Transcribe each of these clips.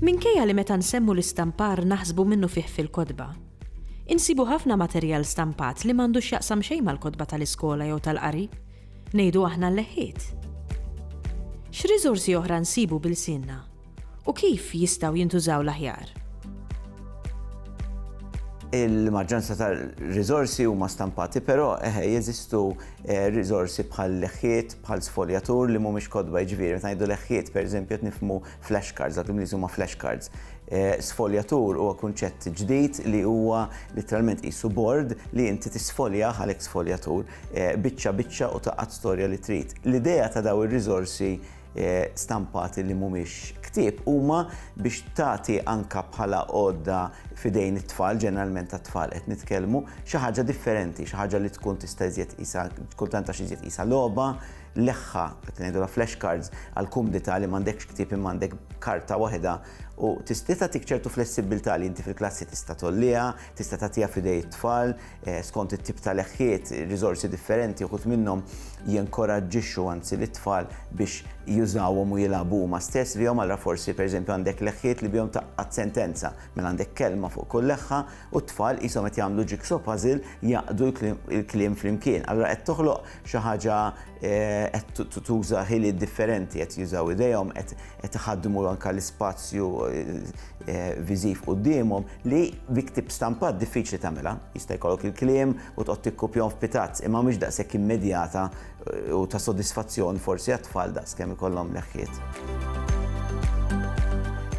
Minkejja li meta nsemmu l-istampar naħsbu minnu fih fil-kotba, insibu ħafna materjal stampat li m'għandux jaqsam xejn mal-kotba tal-iskola jew tal-qari, ngħidu aħna l-leħħiet. X'riżorsi oħra nsibu bil-sinna? U kif jistgħu jintużaw l-aħjar? Il-maġġoranza tal-riżorsi huma stampati, però eħe jeżistu eh, riżorsi bħal leħħiet, bħal sfoljatur li mhumiex kodba jiġifieri. Meta ngħidu leħħiet, pereżempju, qed nifhmu flashcards, dak l-Ingliż huma flashcards. Eh, sfoljatur huwa kunċett ġdid li huwa literalment qisu bord li inti tisfolja għalhekk sfoljatur eh, biċċa biċċa u taqgħad storja li trid. L-idea ta' daw ir-riżorsi Eh, stampati li mhumiex ktieb huma biex tagħti anka bħala għodda fidejn it-tfal, ġeneralment ta' tfal qed nitkellmu, xi ħaġa differenti, xi ħaġa li tkun tista' iżjed isa, tkun tanta xi iżjed isa logħba, leħħa, qed ngħidu la flash cards għal kumdita li m'għandekx ktieb imma għandek karta waħda u tista' tik ċertu flessibilità li inti fil-klassi tista' tolliha, tista' tagħtiha fidej it-tfal, Eh, skont it-tip ta' leħħiet, riżorsi differenti, uħut minnhom jinkoraġġixxu anzi li tfal biex jużawhom u jilagħbu ma stess bihom għal forsi pereżempju għandek leħħiet li bihom taqqat sentenza, minn għandek kelma fuq kull leħħa u t-tfal qishom qed jagħmlu jigsaw puzzle jaqdu l-kliem flimkien. Allura qed toħloq xi ħaġa eh, qed tuża ħiliet differenti qed jużaw idejhom qed iħaddmu anke l-ispazju eh, Eh, viżiv qudiemhom li bi ktib stampat diffiċli tagħmilha. Jista' jkollok il-kliem u toqgħod tikkupjahom f'pitazz imma mhux daqshekk immedjata eh, u ta' sodisfazzjon forsi għat-tfal daqs kemm ikollhom leħħiet.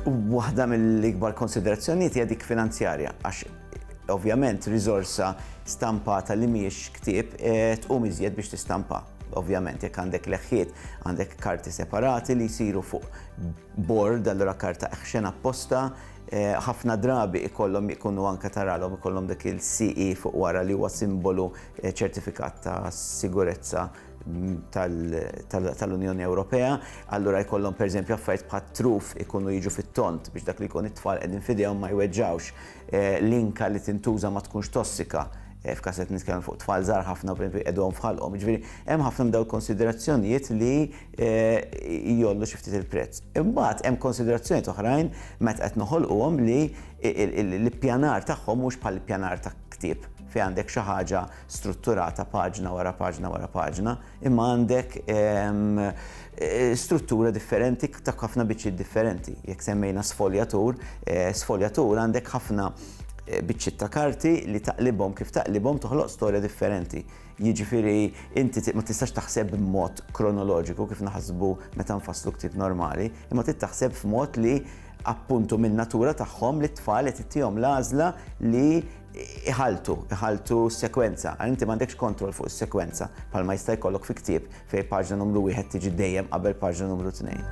Waħda mill-ikbar konsiderazzjonijiet hija dik finanzjarja għax ovvjament riżorsa stampata li mhijiex ktieb eh, tqum iżjed biex tistampa. Ovvjament jekk għandek leħħiet, għandek karti separati li jsiru fuq Bord, allura karta action apposta, ħafna drabi ikollhom ikunu anke taralhom ikollhom dik il-CE fuq wara li huwa simbolu ċertifikat ta' sigurezza tal-Unjoni Ewropea, allura jkollhom pereżempju affarijiet bħat-truf ikunu jiġu fit-tond biex dak li jkun it-tfal qegħdin f'idejhom ma jweġġgħux. L-inka li tintuża ma tkunx tossika, f'każ li qed nitkellmu fuq tfal żgħar ħafna pereżempju jqegħduhom f'ħalqhom. Jiġifieri hemm ħafna minn dawn il-konsiderazzjonijiet li jgħollu xi ftit il-prezz. Imbagħad hemm konsiderazzjonijiet oħrajn meta qed noħolquhom li l-ippjanar tagħhom mhux bħall-ippjanar ta' ktieb fejn għandek xi ħaġa strutturata paġna wara paġna wara paġna. imma għandek struttura differenti ta' ħafna biċċiet differenti. Jekk semmejna sfoljatur, eh, sfoljatur għandek ħafna eh, biċċiet ta' karti li taqlibhom kif taqlibhom toħloq storja differenti. Jiġifieri inti ma tistax taħseb b'mod kronoloġiku kif naħsbu meta nfasslu ktieb normali, imma trid taħseb f'mod li appuntu minn natura tagħhom li t-tfal qed ittihom l-għażla li iħalltu, iħalltu s-sekwenza, għal inti m'għandekx kontroll fuq is-sekwenza, bħalma jista' jkollok fi ktieb fejn paġna numru wieħed tiġi dejjem qabel paġna numru tnejn.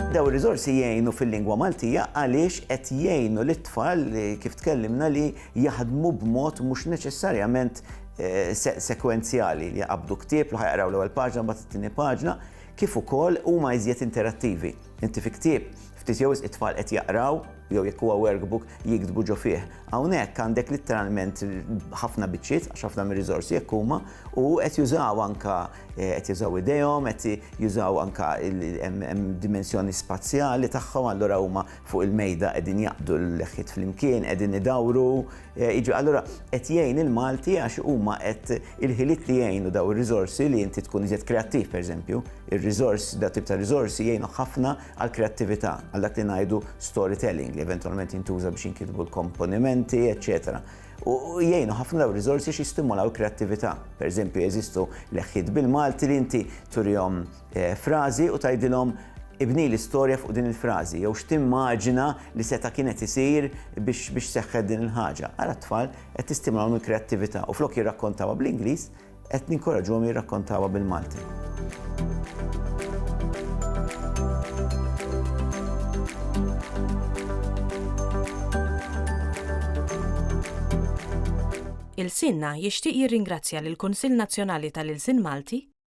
Dawn ir-riżorsi jgħinu fil-lingwa Maltija għaliex qed jgħinu lit-tfal kif tkellimna li jaħdmu b'mod mhux neċessarjament eh, sekwenzjali li jaqabdu ktieb li ħajqraw l-ewwel paġna mbagħad it-tieni paġna kif ukoll huma iżjed interattivi. Inti fi ktieb, ftit jew wisq it-tfal qed jaqraw, jew jekk huwa workbook, jiktbu ġo fih. Hawnhekk għandek litteralment ħafna biċċiet, għax ħafna mir-riżorsi hekk huma, u qed jużaw anke, qed jużaw idejhom, qed jużaw anke hemm dimensjoni spazjali tagħhom, allura huma fuq il-mejda qegħdin jaqbdu l-leħħiet flimkien, qegħdin idawru, Eh, jiġu allura qed jgħin il-Malti għax huma qed il-ħiliet li jgħinu daw ir-riżorsi li inti tkun iżjed kreattiv pereżempju, ir-riżors da tip ta' riżorsi jgħinu ħafna għal kreattività għal dak li ngħidu storytelling li eventwalment jintuża biex jinkitbu l-komponimenti, eċċetera. U jgħinu ħafna daw riżorsi xi stimulaw kreattività. Pereżempju jeżistu leħħiet bil-Malti li inti turihom frażi u tgħidilhom ibnili storja fuq din il-frażi jew x'timmaġina li seta' kien qed isir biex biex seħħet din il-ħaġa. Ara t-tfal qed tistimulahom il-kreattività u flok jirrakkontawha bl-Ingliż qed ninkoraġġuhom jirrakkontawha bil-Malti. Ilsienna jixtieq jirringrazzja lill-Kunsill Nazzjonali tal-Ilsien Malti,